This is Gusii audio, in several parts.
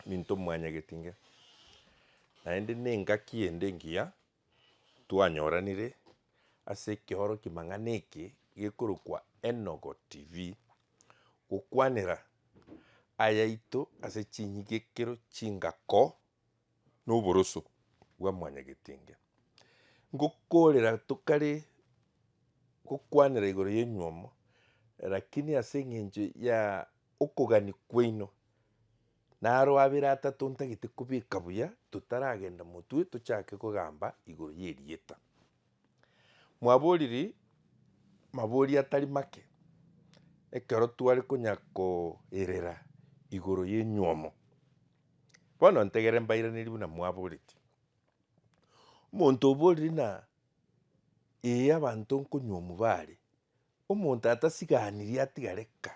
Minto mwanya getinga. Naende nengaki ende engiya twanyoranire ase ekeoroki mang'ana eke gekorokwa Enogo TV, gokwanera ayaito ase chinyigekero chingako na oboroso bwa mwanya getinga. Ngokorera tokare gokwanera igoro y'enywomo, rakini ase eng'encho ya okogania kwaino Na aro abere atato ntagete kobeka buya totaragenda motwe tochake kogamba igoro y'erieta. Mwaboriri mabori atari make ekero tware konya koirera igoro y'enyuomo. Bono ntegere mbairaneri buna mwaboreti. Omonto oboriri na ee abanto nkonyuomu bare Omonto atasiganirie atiga reka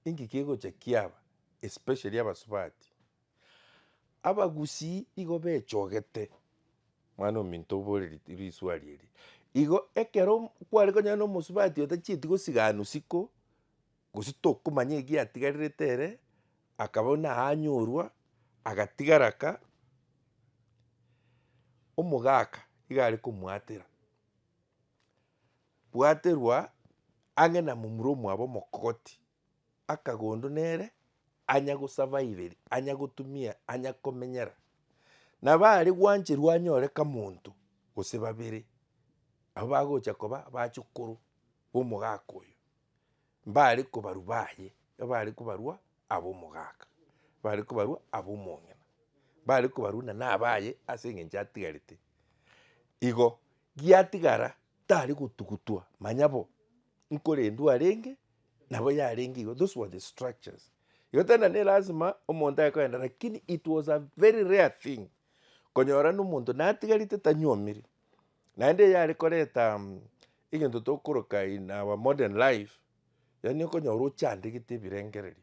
inki kegocha kiaba especially abasubati. Abagusii igo bechogete mwana ominto obore risuari eri igo ekero kware konyora na omosubati otachieti gosigana usiko gose tokomanya egiatigarerete ere akaba buna anyorwa agatigara ka omogaka iga are komoatera. bwaterwa ang'e na momura omwabo omokogoti, akagondo nere anya gosavaiveria, anya gotumia, anya komenyera. Nabo are gwancherwa anyore kamonto gose babere, abwo bagocha koba abachukuru b'omogaka oyo, mbare kobarwa baye, mbare kobarwa ab'omogaka, mbare kobarwa ab'omong'ina, mbare kobarwa nana abaye ase eng'encho atigarete igo. Giatigara tari gotugutwa manya bo nkorendwa arenge nabo yarenge igo those were the structures igo tari na nelasima omonto aye kogenda lakini it was a very rare thing konyora buna omonto natigarete tanyuomire naende eye are koreta egento tokoroka in our modern life yaani okonyora ochandegete ebirengererio.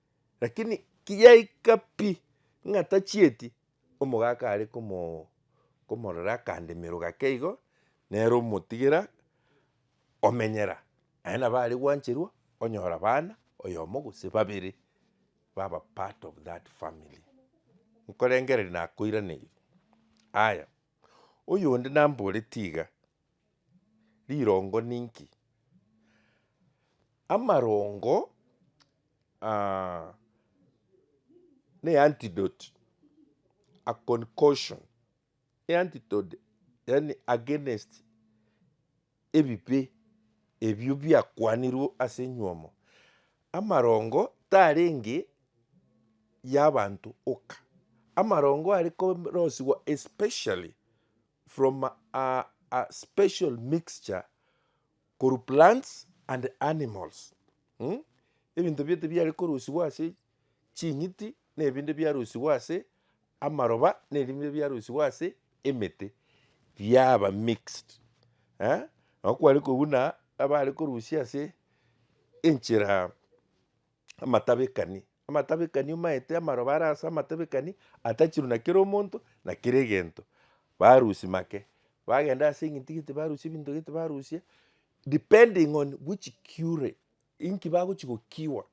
Lakini kiyaika pi ng'a tachieti, omogaka are komo komorora akandemero gake igo, nere omotigera omenyera. Aye nabo are gwancherwa onyora abana oyomo gose babere baba part of that family. Nkorengereria nakoiraneiri. Aya, oyonde namboreti iga. Rirongo ninki? Amarongo ne eantidote, a concussion, eantitode yaani against ebibe ebio biakwanirwe ase enyiomo. Amarongo tarenge y'abanto oka, amarongo arekorosiwa especially from a a special mixture korwa plants and animals um ebinto biaito biare korusigwa ase ching'iti na ebinde biarusigwa ase amaroba na ebinde biarusigwa ase emete biaba mixed eh nabo kware kobua buna abare korusia ase enchera amatabekani Amatabekani omaete amaroba are ase amatabekani atachirwe na kera omonto na kera egento barusia make bagenda ase eng'iti gete barusia ebinto gete barusia depending on which cure inki bagochi go cure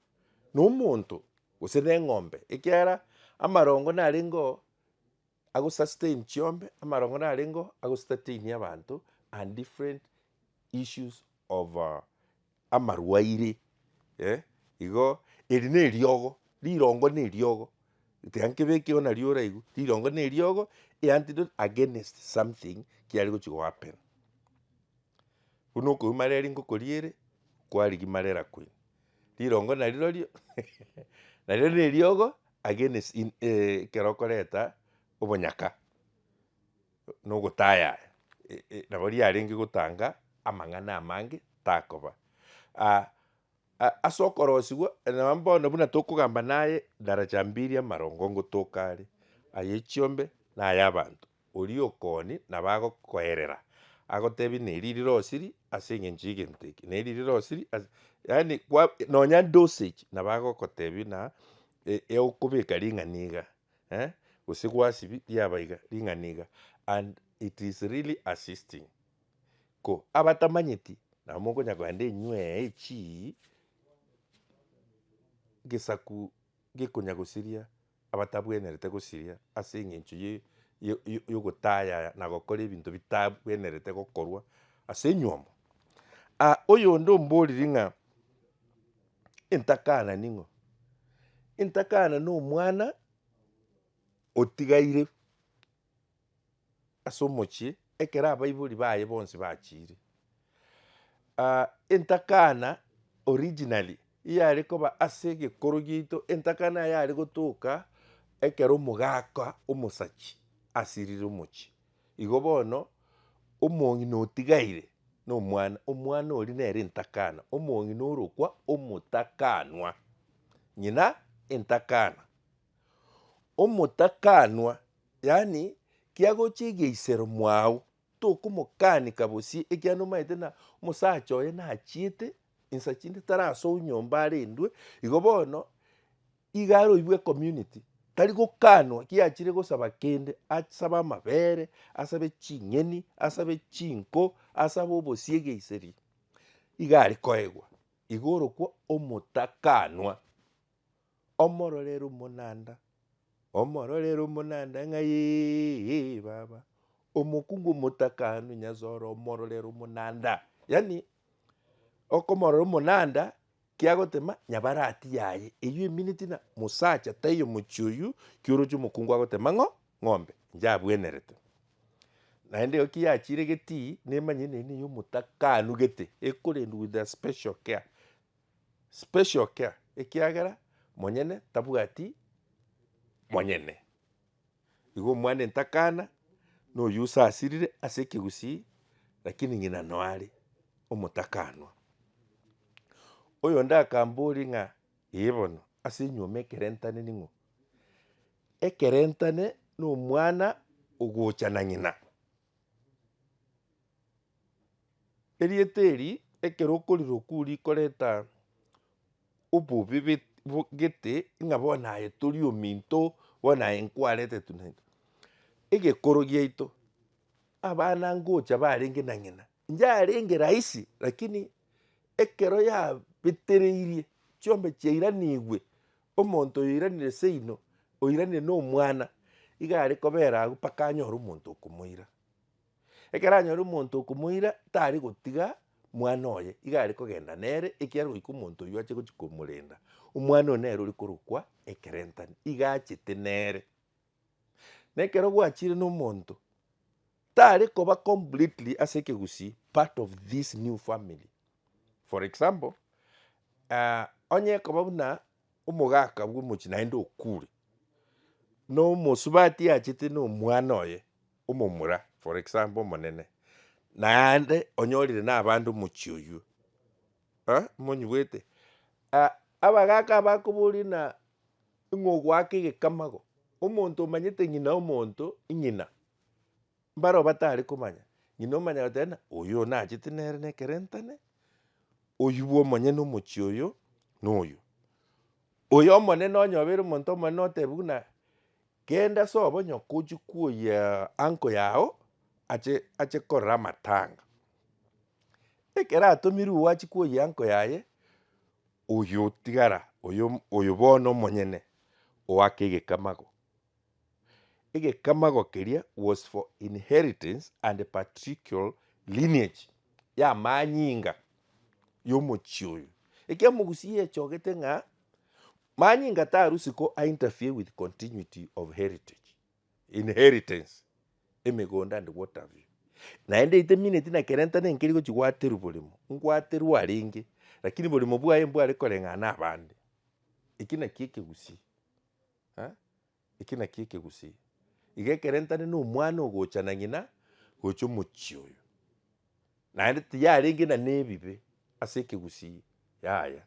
na omonto gose na eng'ombe ekiagera amarongo narenge oo. agosastein chiombe, amarong'ori arengeo agostateini abanto and different issues of amarwaire eh, igo eri na eriogo, rirongo na eriogo, tiga nkebeke oo nario oraigwe, rirongo na eriogo e antidote against something kiare gochi go happen. Buna okobua mareri ngokoriere, kwarigia marera kweri. Rirongo narirorio nario neriogo against in ekero okoreta obonyaka na ogotaya nabo riarenge gotanga amang'ana amange takoba. Ase okorosigwa nonya bono buna tokogamba naye daraja mbili amarongo ngotoka are, aye chiombe na ay'abanto. Oria okoni nabo agokoerera, agotebie neri rirosiri ase engencho y'egento eke, neri rirosiri ase yaani kwa nonya dosage nabo agogotebia na e- e okobeka ring'ana iga eh, gose gwasibia riaba iga ring'ana iga and it is really assisting. Ko abatamanyeti nabo mokonya kogenda enywe eye chii gesaku gekonyagosiria abatabwenerete gosiria ase engencho ye yogotayaya na gokora ebinto bitabwenerete gokorwa ase enyiomo. Aa oyonde omboriri ng'a intakana ning'o? Intakana nomwana otigaire. ase omochie ekero abaibori baye bonsi bachiire. Entakana originally eyare koba ase egekoro giaito, entakana eye yare gotoka ekero omogaka omosachi asirire omochie. Igo bono omong'ina otigaire na omwana, omwana oria nere entakana, omong'ina orokwa omotakanwa, ng'ina entakana. Omotakanwa, yaani kiagochia egeisero mwao, tokomokanika bosio ekiagera nomaete na omosacha oye nachiete ensa chinde tari asoo nyomba arendwe, igo bono iga aroibwe ecommunity tari gokanwa kiachire gosaba kende, asabe amabere, asabe ching'eni, asabe chinko, asabe obosie egeiseri, iga arekoegwa, igo orokwo omotakanwa. Omororere omonanda, omororere omonanda ng'ayeeeee baba, omokungu omotakanu Nyasaye ore omororere omonanda. Yaani okomorora omonanda kiagotema nyabarati yaye eywo eminiti na mosacha taiyo omochie oywo ki oroche omokungu agotema ng'o ng'ombe inche abwenerete. Naende igo ki yachiire getii nemanyire nende niyo omotakanu gete ekorendwa with a special care. special care ekiagera monyene tabwati monyene. Igo omwana entakana noyio osasirire ase ekegusii lakini ng'ina noare omotakanwa. Oyonde akamboria ng'a ee bono ase enyuoma ekerentane ning'o? Ekerentane nomwana ogocha na ng'ina. Erieta eri ekero okoriroka oria rikoreta obobe gete ng'a bono aye tori ominto bono aye nkwarete tu na tu. Egekoro giaito abana ngocha barenge na ng'ina. Nchiarenge rahisi, lakini ekero yabetereirie, chiombe chiairanigwe, omonto oyoiranire seino, oiranire nomwana, iga are kobera agwo mpaka anyore omonto okomoira. Ekero anyore omonto okomoira, tari gotiga mwana oye, iga are kogenda nere ekiagera goika omonto oywo ache gochia komorenda. Omwana oyo nere ore korokwa ekerentani, iga achete nere. Na ekero gwachire nomonto, tare koba completely ase ekegusii part of this new family. For example, ah, onye ekoba buna omogaka bw'omochie naende okure, nomosubati achete nomwana oye omomura for example omonene, naende onyorire nabande omochie oywo, eh, monyigwete? Ah, abagaka aba bakoboria buna Ng'a ogoaka egekamago, omonto omanyete ng'ina omonto, ing'ina, mbaro batare komanya, ng'ina omanya goteeba ng'a oyo nachete nere nekerentane, oywo bwa omonyene omochie oyo na oywo. Oyo omonene onye obeire omonto omonene otebiwe buna genda sobo onye okochi kwoyia uncle yago ache ache korora amatanga. Ekero atomirwe oachie kwoyia uncle yaye. Oyotigara, oyo, oyo bono omonyene oake egekamago. Egekamago keria was for inheritance and patriarchal lineage, y'amanyinga y'omochie oyo. Ekio Omogusi yechogete ng'a manyinga tarusi ko a interfere with continuity of heritage. inheritance, emegondo and water view. Naende itemineti na kerenta nenkeri gochi gwaterwa borimo, ngwaterwa arenge, lakini borimo bwaye mbware koreng'ana abande. Eki naki ekegusii eh, eki naki ekegusii. Iga ekero ntare na omwana ogocha na ng'ina gocha omochie oyo, naende tiyarenge na nebibe ase ekegusii yaya.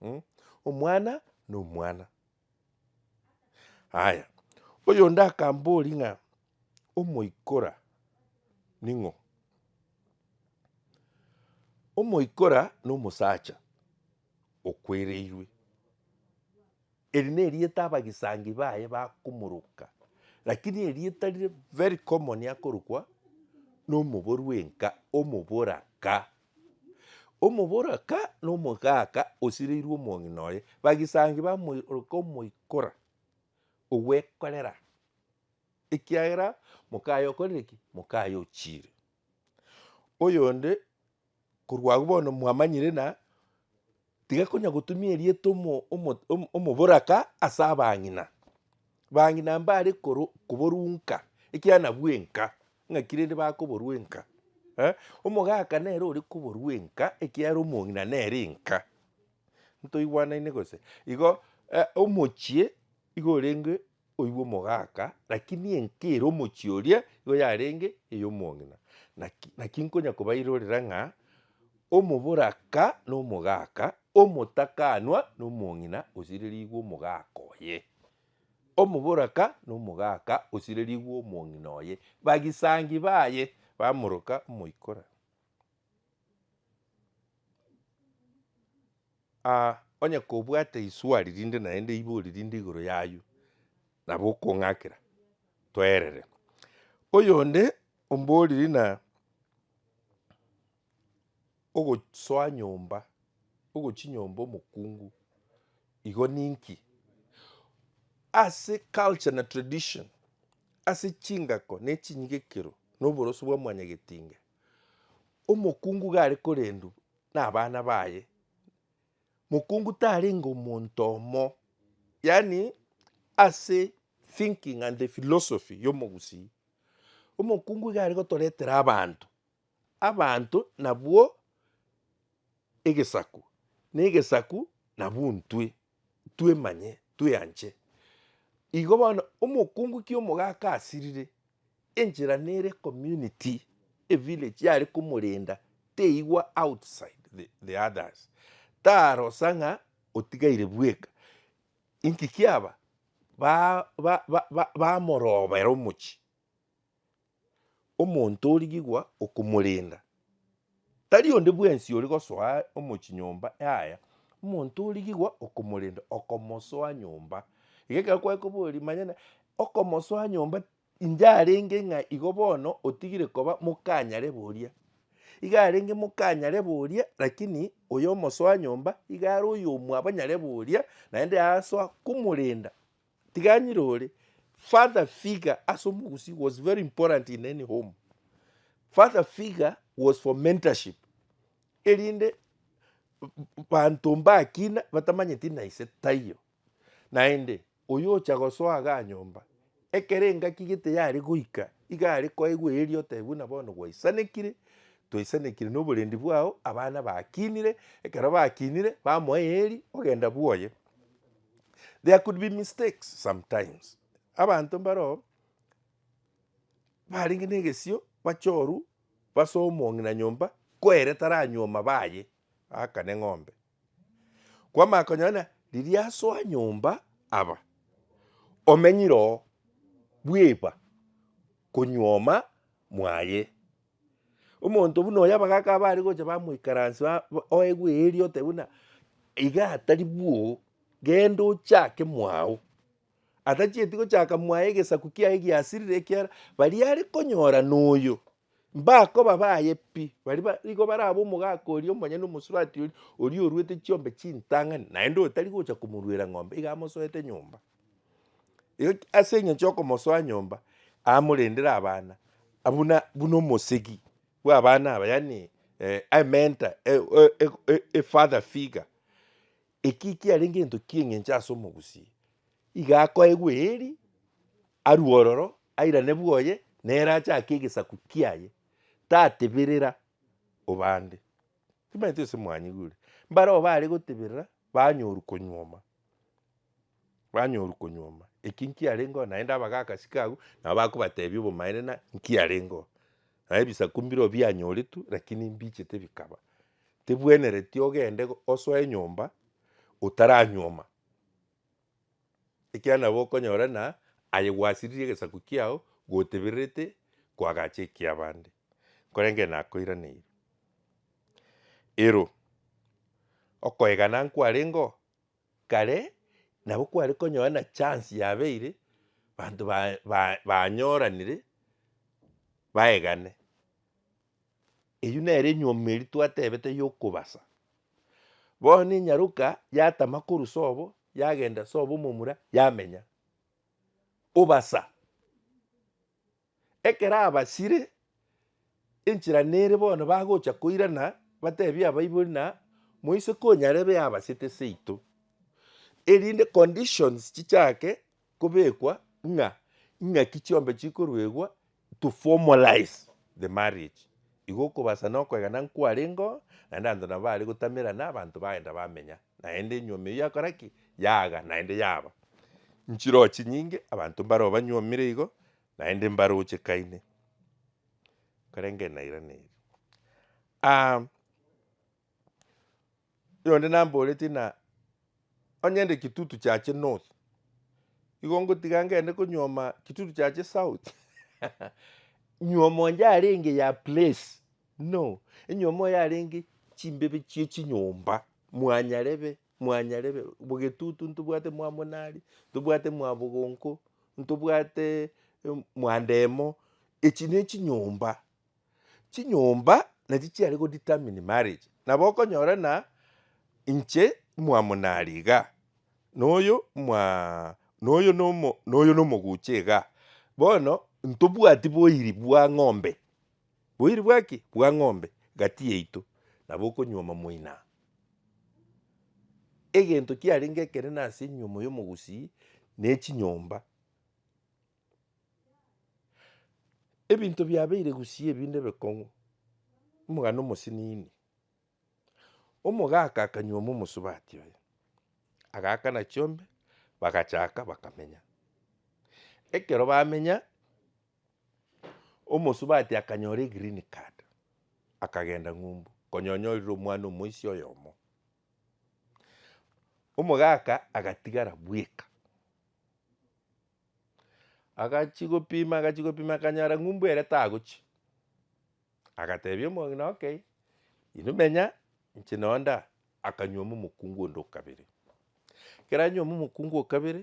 Mh, omwana nomwana. Aya, oyonde akamboria ng'a omoikora ning'o? Omoikora nomosacha okwereirwe, eri nerieta abagisangi baye bakomoroka, lakini erieta rire very common akorokwa nomoboru enka, omoboraka. Omoboraka na omogaka osireirwe omong'ina oye, bagisangi bamoiroka omoikora ogwekorera, ekiagera mokaye okorire ki? mokaye ochiire. Oyonde korwa agwo bono mwamanyire na. Tiga konya gotumia erieta omo, omo, omo, omoboraka ase abang'ina. Bang'ina mbare koro, koborunka, ekiagera nabwo enka, ng'aki rende bakoborwa enka. Eh, omogaka nere ore koborwa enka, ekiagera omong'ina nere enka. Ntoigwanaine gose? Igo, eh, omochie igo orenge. Oigwe omogaka, lakini enka ere omochie oria igo yarenge ey'omong'ina. Naki, naki nkonya kobairorera ng'a omoboraka nomogaka, omotakaanwa nomong'ina osirerigwe omogaka oye, omoboraka nomogaka osirerigwe omong'ina oye, bagisangi baye bamoroka omoikora. Aa onye kobwate iswari rinde naende eibori rinde igoro yaywo, nabo okong'akera toerere. Oyonde omboriri ng'a ogosoa nyomba, ogochi nyomba omokungu igo ninki? Ase culture na tradition ase chingako ne chinyigekero na oboroso bwa mwanyagetinga, Omokungu gare korendu nabana baye, mokungu tarenge omonto omo, yaani ase thinking and the philosophy ya omogusii, omokungu iga are gotoretera abanto, abanto nabwo egesaku, na egesaku nabwo intwe. twemanye, tweanche. Igo bono omokungu ki omogaka asirire, enchera nere community, evillage yare komorenda teigwa outside the the others. Tarosa ng'a otigaire bweka, inki kiaba? ba ba ba bamorobera omochie. Omonto origigwa okomorenda, tari onde bwensi ore gosoa aye omochie nyomba yaya, omonto origigwa okomorenda, okomosoa nyomba. Iga ekero kware koboria, manyana okomosoa nyomba inche arenge ng'a igo bono otigire koba mokanyare boria. Iga arenge mokanyare boria lakini oyo omosoa nyomba iga are oyomwabanyare boria naende asoa komorenda. Tiganyire ore father figure ase omogusii was very important in any home. Father figure was for mentorship erinde banto mbakina batamanyeti na ise taiyo. Naende oyo ocha gosoa iga anyomba ekero engaki gete yare goika iga are koegwa eeri otebe buna bono gwaisanekire twaisanekire na oborendi bwao abana bakinire ekero bakinire bamoa eeri ogenda bwoye. There could be mistakes sometimes, abanto mbaroo barenge negesio bachoru base omong'ina nyomba kwere taranyuoma baye akane eng'ombe, kwamanya konyora ng'a riria asoa nyomba aba omenyire oo bweba konyuoma mwaye. Omonto buna oyo abagaaka abare gocha bamoikaransia ba- ba- oegwe eeri otebe buna iga atari bwoo, genda ochake mwago. Atachieti gochaka mwaye egesaku kiaye giasirire ekiara baria are konyora noyo, mbakoba baye pi, baria ba- igo barabe omogaka oria omonyene omosurati oria, oria oruete chiombe chintang'ani, naende otari gocha komoruera ng'ombe iga amosoete nyomba. Eg- Ase engencho yokomosoa nyomba, amorendere abana, a- buna buna omosegi bw'abana aba, yaani eh, a mentor, e- e- e- e- e father figure, ekio ekiarenge egento kia eng'encho ase omogusia, iga akoegwa eeri, arue ororo, airane bwoye, nere achake egesaku kiaye, tateberera obande. Timanyeti gose mwanyigure? Mbareo bare goteberera, banyoru konyuoma, Banyorwa konyuoma eki nkiarengeo naende abagakasi kabu nabo bakobatebia obomaene na nkiarengeo. Naende ebisaku mbirobio bianyoretwe lakini mbichete bikaba. Tebwenereti ogende osoe enyomba otaranyuoma ekiagera nabo okonyora ng'a aye gwasiririe egesaku kiao gotebererete koagacha ekiabande. nkorenge nakoiraneiri. Ero okoegana nkwarengeo kare nabo kware konyora na chance yabeire banto ba- ba- banyoranire baegane. Eywo nere enyiomi eria twatebete ya okobasa. Bono enyaroka yatama korwa sobo yagenda sobo momura yamenya. Obasa. Ekero abasire enchera nere bono bagocha koirana, batebie abaibori na moise konyarebe abasete seito, erinde conditions chichake kobekwa ng'a ing'aki chiombe chikoruegwa to formalize the marriage. Igo okobasa nokoegena nkwarengeo naende abanto nabo bare gotamerana abanto bagenda bamenya. naende enyuomi eyio yakora ki? Yaaga naende yaba nchiroo chinyinge, abanto mbaroo banyuomire igo, naende mbarochekaine, korende nairaneiri. Aah oyonde namboreti ng'a onye ende kitutu kiache north, igo ngotiga ngende konyuoma kitutu kiache south, nyuomo onde arenge ya place. No, enyuma moyarenge chimbebe chie chinyomba, mwanyarebe, mwanyarebe, bogetutu ntobwate mwamonari, ntobwate mwabogonko, ntobwate mwandemo, echi ne chinyomba, chinyomba nachi chiare go determine marriage. Nabo okonyora ng'a inche mwamonari iga, na oyo mwaa na oyo na omo na oyo na omogucha iga, bono ntobwati boiri bwa ng'ombe. Boiri bwa ki? Bwa ng'ombe gati yaito, nabo okonyuoma moina. Egento kiarenge ekenene ase enyuomo y'omogusii nechinyomba. Ebinto biabeire gusii ebinde ebekong'u, omogano omosinini, omogaka akanyuoma omosubati oye, agakana chiombe bagachaka bakamenya. Ekero bamenya Omosubati akanyora egreen card, akagenda ng'umbu, konya onyorire omwana omoisia oyomo. Omogaka agatigara bweka, agachi gopima agachi gopima akanyora ng'umbu ere tagochia, agatebia omong'ina okay, inwe menya inche noo nda, akanywoma omokungu onde o kabere. Ekero anywoma omokungu o kabere.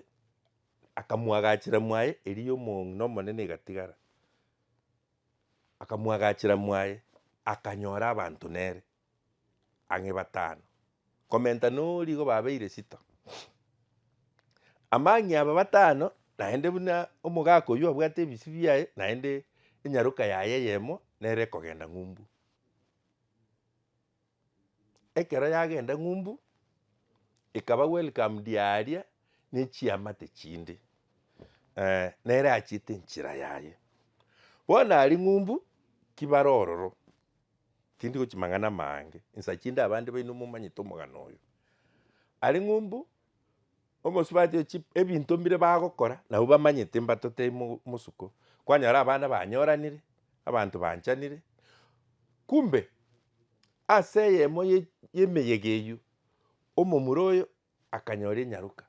Akamoagachera mwaye, erio y'omong'ina omonene egatigara. Akamoagachera mwaye, akanyora abanto nere ang'e batano, komenta noria igo babeire sita. Amang'e aba batano naende buna omogaka oyio abwate ebisi biaye, naende enyaroka yaye eyemo nere ekogenda ng'umbu. Ekero yagenda ng'umbu, ekaba welcomed aria nechiamate chinde, eh, nere achiete enchera yaye. Bono aria ng'umbu, ki bare ororo, tindi gochia mang'ana amange, insa chinde abande baino momanyete omogano oyo. Aria ng'umbu. Omosubati o chi ebinto mbire bagokora nabwo bamanyete mbato teri mo mosuko. Kwanyora abana banyoranire, abanto banchanire, kumbe ase eyemo ye yemeyega eywo, omomura oyo akanyora enyaroka.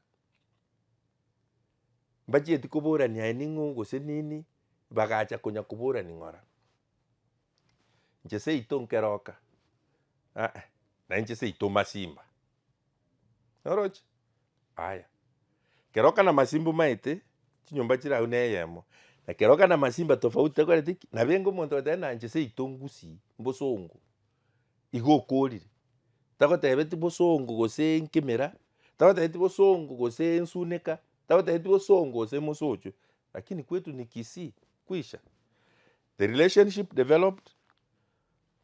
Mbachieti koborania aye ning'o gose nini, bagacha konya koborani ng'ora. Inche seito nkeroka, nainche seito masimba. Oroche? Aya. Kero kana masimba omaete, chinyomba chire agwo neyemo, na kero kana masimba tofauti takoreti ki? Nabo enga omonto ogoteba buna inche ase yaito ngusii mbosongo, igo okorire. Tagotebeti bosongo gose nkemera, tagotebeti bosongo gose nsuneka, tagotebeti bosongo gose mosocho, lakini kwetu ni kisii, kwisha. The relationship developed.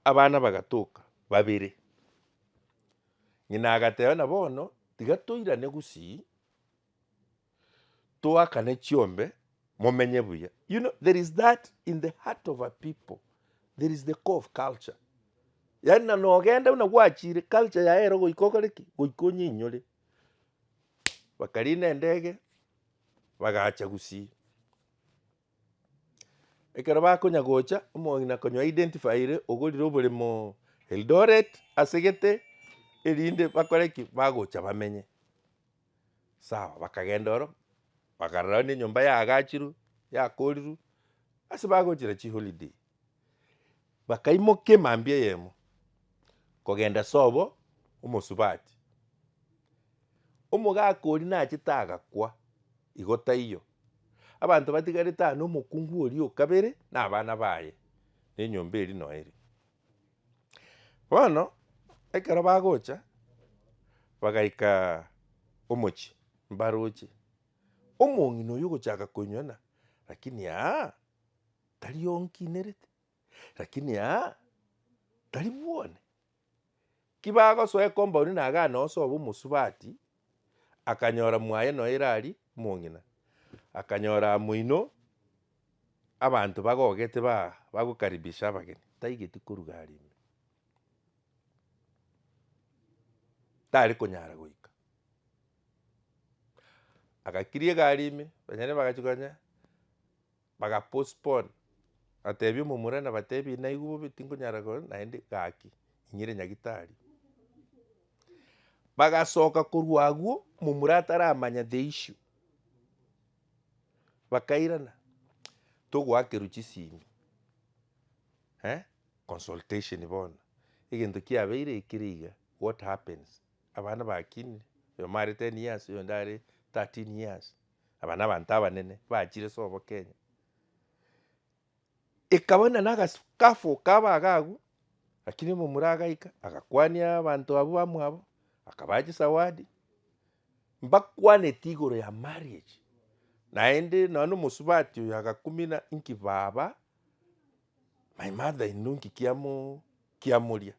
Abana bagatoka babere, ng'ina agateba buna bono tiga toirane gusii, toakane chiombe momenye buya, you know there is that in the heart of a people, there is the core of culture, yaani na nogenda buna gwachire culture yaye ero goika okore ki? goika onyinyore. Bakariina endege bagacha gusii. Ekero bakonya gocha, omong'ina konya identifyire ogorire oboremo Eldoret ase gete erinde bakore ki? Bagocha bamenye. Sawa bakagenda oro, bakarora nenyomba yaagachirwe, yakorirwe, ase bagochire chiholiday. Bakaimoka emambia eyemo kogenda sobo omosubati. Omogaka oria nachete agakwa, igo taiyo. Abanto batigarete aa nomokungu oria okabere na abana baye na enyomba eria noe eria. Bono ekero bagocha bagaika omochie mbaroche, omong'ina oyo ogochaka koinywa ng'a lakini aa. Tari onkinerete, lakini aa, tari bwone. Ki bagosoa ekombauni na agane ose obe omosubati, akanyora mwaye noe Irari omong'ina, akanyora amo inwe abanto bagogete ba bagokaribisha abageni, taigeti koruga are ime. Tari konyara goika. Agakiria egari ime, abanyene bagachia koba ng'a. Baga postpone batebia omomurana batebia naigwe bobe tinkonyara kore naende gaki inyire nyagitari. Bagasoka korwa agwo momura ataramanya the issue bakairana togoakerwa chisimi eh consultation bono egento kiabeire ekere iga what happens abana bakinire oyomo are ten years oyonde are thirteen years. Aba nabanto abanene bachire sobo Kenya. Ekaba buna nagasi kafu kaba aga agwo lakini omomura agaika agakwania abanto abwo bamwabo akabaha chisawadi mbakwaneti igoro ya marriage naende nonye na omosubati oyo agakumina inki baba my mother in law inki kiamo kiamoria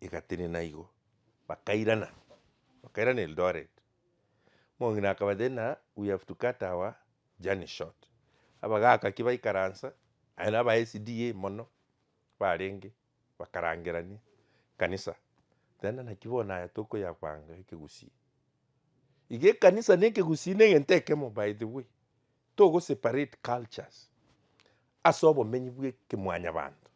egatenena igo bakairana bakairana Eldoret Mong'ina akabata ina we have to cut our journey short. Abagakaki baikaransa aye na aba SDA mono barenge bakarangerania ekanisa then naki bono aya tokoyabanga ekegusii. Iga ekanisa na ekegusii na egento ekemo by the way. Togo separate cultures ase obomenyi bwa ekemwanyabanto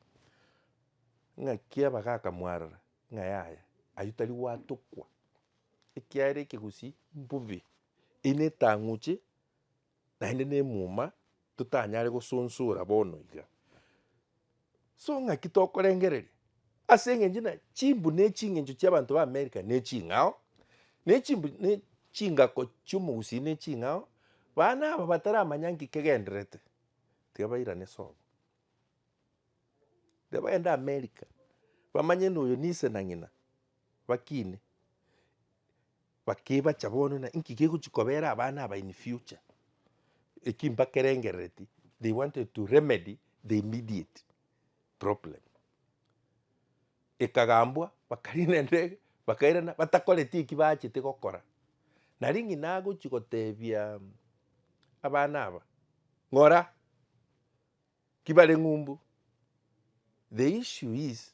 ng'aki abagaka mwarora ng'a yaya ayio tari gwatokwa. ekiagera ekegusii mbobe eyio netang'uche naende nemuma totanyare gosonsora bono iga. So ng'aki tokorengereria ase eng'encho na chimbu ne ching'encho chia abanto ba America ne ching'ao ne chimbu ne chingako chia omogusii ne ching'ao bana aba bataramanya nki kegendererete tiga bairane sobo. Tiga bagende America bamanye ng'a oyo ne ise na ng'ina. bakine, bakebacha bono na inki gegochi kobera abana aba in future, eki mbakerengerereti they wanted to remedy the immediate problem. Ekagambwa bakariina endege bakairana batakoreti eki bachete gokora. Nari ng'ina agochi gotebia abana aba ng'ora ki bare ng'umbu the issue is.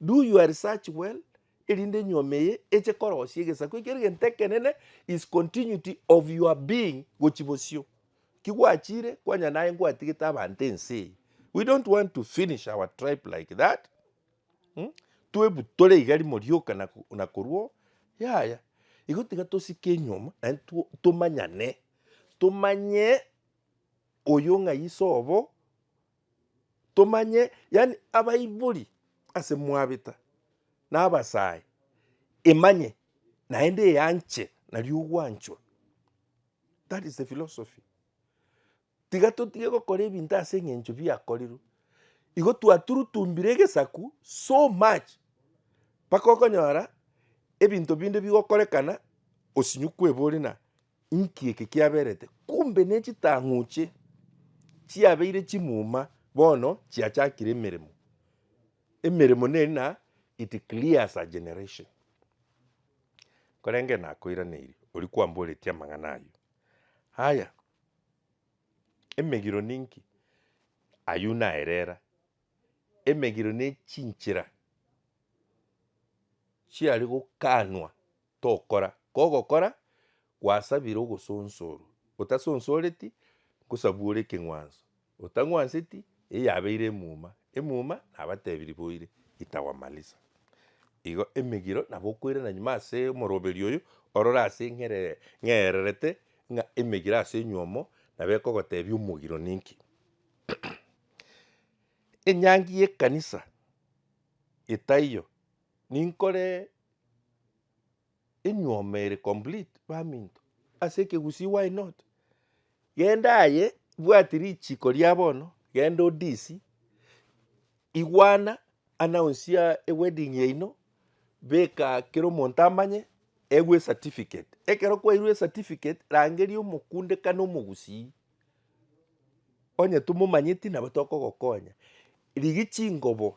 Do your research well erinde enyuoma eye eche korosia egesaku ekio egento ekenene is continuity of your being gochia bosio. Ki gwachire kwanya naye ngwatigete abanto ense eye. We don't want to finish our tribe like that. Hmm? Twebutore iga rimo rioka na ko- na korwo yaya. Igo tiga tosike enyuoma na tu- tomanyane. Tomanye oyo ng'a iso obo tomanye, yaani abaibori ase mwabeta na abasae emanye naende eyanche nario ogwanchwa that is the philosophy. Tiga totige gokora ebinto ase eng'encho biakorerwe, igo twaturutumbire egesaku so much mpaka okonyora ebinto binde bigokorekana osinye kwebori na. Inki eke kiaberete? Kumbe ne chitang'uche chiabeire chimuma bono chiachakire emeremo. Emeremo neri na it clears a generation. Korenge nakoiraneiri oria kwamboretie amang'ana ayio. Haya, emegiro ninki? Ayio naerera, emegiro ne chinchera chiare gokanwa tokora, kogokora gwasabire ogosonsorwa, otasonsoreti, nkosabwore ekeng'wanso, otang'wanseti, eye yabeire emuma, emuma, nabatebirie boire, itawamaliza. Igo emegiro nabo okoirana nyuma ase omoroberio oyo, orore ase ng'ere ng'ererete ng'a emegiro ase enywomo nabo ekogotebia omogiro ninki. Enyangi y'ekanisa etaiyo. Ninkore enyuoma ere complete baminto ase ekegusii why not? Genda aye bwati richiko ria bono genda odisi igwana announce ya ewedding yaino beka kera omonto amanye egwe ecertificate ekero kwairwe ecertificate rangeria omokunde kana omogusii onye tomomanyeti nabo tokogokonya. Rigia chingobo.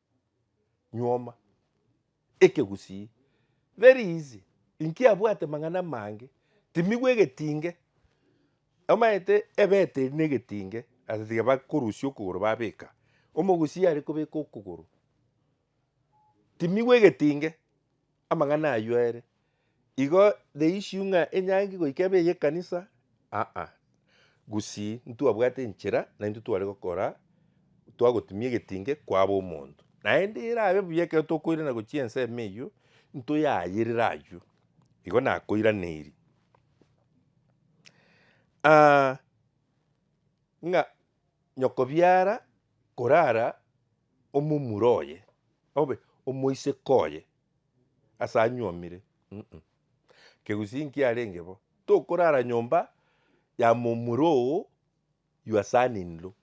nyuoma ekegusii very easy inki abwate mang'ana amange timigwe egetinge omanyete ebeteri ne egetinge ase tiga bakorusia okogoro babeka omogusii arekobeka okogoro timigwe egetinge. Amang'ana ayio ere igo the issue ng'a enyangi goika ebe ey'ekanisa, aa, gusii ntwabwate enchera naintwe tware gokora twagotimia egetinge kwaba omonto. Naende erabe buya ekero tokoirana gochia ensemo eyio ntoyayerere ayio. Igo nakoiraneiri ng'a. Nyokobiara korara omomura oye, obe omoiseke oye ase anyuomire, mm kegusii nkiarenge bo, tokorara nyomba ya momura oo your son in law,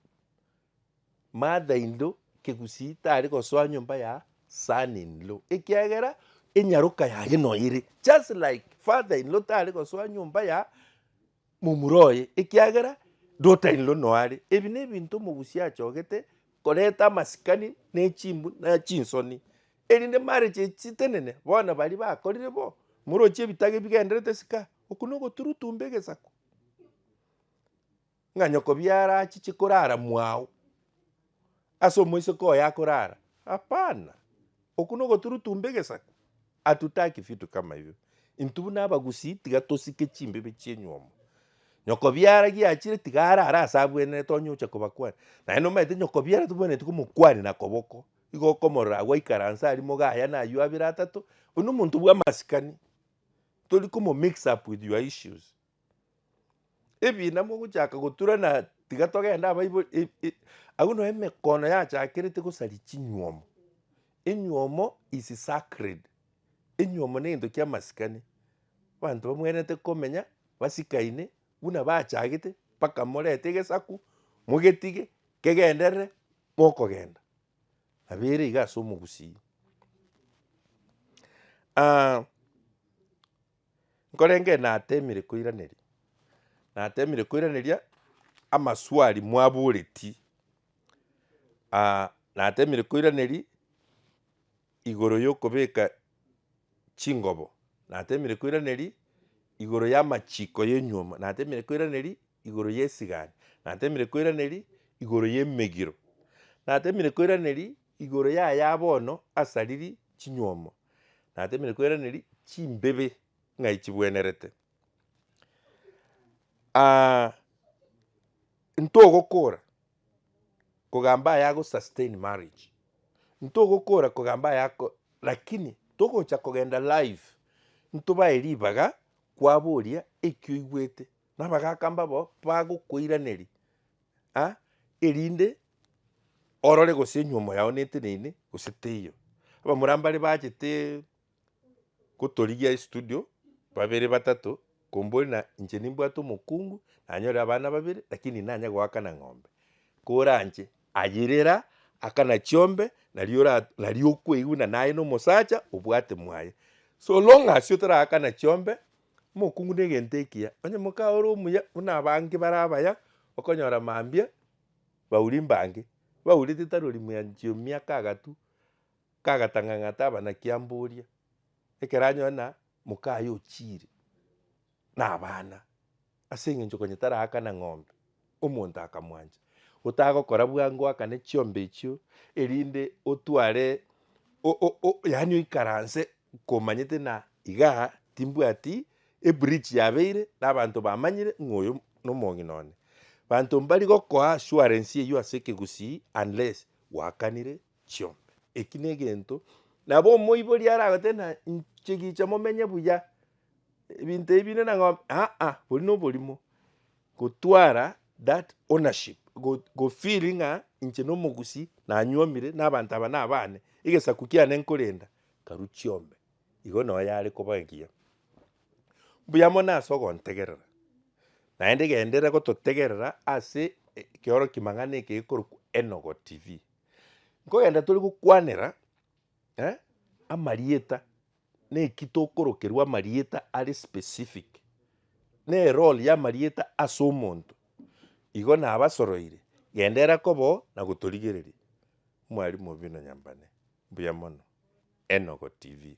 mother in law kegusii tari gosoa nyomba ya son in law ekiagera enyaroka yaye noyo ere just like father in law tari gosoa nyomba ya. momura oye, ekiagera ndotainirwe noare. Ebi nebinto omogusi achogete koreta amasikani ne chimbu na chinsoni, erinde marriage echi chitenene. Bono baria bakorire bo, morochie ebitaga ebigenderete sika, oku nogoturutumba egesaku, ng'a nyoko biara achiche korara mwao. ase omoiseke oye akorara? Hapana! Okwo nogoturutumba egesaku. Hatutaki vitu kama hivyo. Intwe buna abagusii tiga tosike chimbibe chi'enywomo. Nyokobiara giachire tiga arare ase abwenerete onye oche kobakwania. Naende nomaete nyokobiara tobwenereti komokwania na koboko, igo okomorora agwo aikaranse aria moga aya naywo abere atato, oyio nomonto bw'amasikani. Tori komo mix up with your issues. Ebiina mogochaka goturana tiga togende abaibori e- e agwo no emekono yachakerete gosaria chinywomo, enywomo is sacred, enywomo ne gento kia masikani, abanto bamwenerete komenya basikaine buna bachagete mpaka morete egesaku mogetige kegenderere mokogenda, nabo ere iga ase omogusii nkorenge natemire koiraneria, natemire koiraneria amaswali mwaboreti, natemire koiraneria igoro yokobeka chingobo, natemire koiraneria igoro yamachiko ya enyuoma, natemire koiraneria igoro ya esigani, natemire koiraneria igoro ya emegiro, natemire koiraneria Igoro y'aya bono asariri chinywomo, na atemire kweraneri chimbibe ng'ai chibwenerete. Aah ntogokora kogamba aya ago sustain marriage, ntogokora kogamba aya ako lakini togocha kogenda live ntobae ribaga kwaboria eki oigwete. na abagaka mbabo bagokoiraneria ah, erinde orore gose enyomo yao neteneine gose teiyo. Abamura mbare bachete gotorigia estudio babere batato kombore na inche nimbwate omokungu nanyore abana babere lakini nanye goakana ng'ombe koranche ayirera akana chiombe naria ora naria okoigwa buna naye na omosacha obwate mwaye so long as otaraakana chiombe. Omokungu negento ekiya, onye moka ore omuya buna abange bare abaya, okonyora mambia bauri mbange baurete tarori mwanchio mia kagatu kagatang'ang'ata abanaki amboria ekero anyore na moka aye ochire na abana. Ase engencho konya taraakana ng'ombe, omonto akamwancha, gotagokora bwango oakane chiombe echio, erinde otware o- o- o- yaani oikaranse komanyete ng'a iga timbwati ebridge yabeire na abanto bamanyire ng'a oyo nomong'ina one. Banto mbari gokoa assurance eyio ase ekegusii unless gwakanire. chiombe. Eki negento nabo omoibori aragotebe na inche gicha momenye buya ebinto ebi binde na ng'ombe aa bori noborimo gotwara that ownership go feel ng'a inche nomogusi nanyuomire na abanto aba nabane egesaku kiane nkorenda karu chiombe igo no yare koba engiya. Mbuya mono ase ogontegerera naende genderera gototegerera ase ekeoro kimang'ana eke gekorokwa Enogo TV. Nkogenda tore gokwanera eh, amarieta, neki tokorokerwa amarieta are specific, ne role ya amarieta ase omonto, igo nabasoroire, genda era koba oo na gotorigereria. Mwarimu Obino Nyambane, mbuya mono. Enogo TV.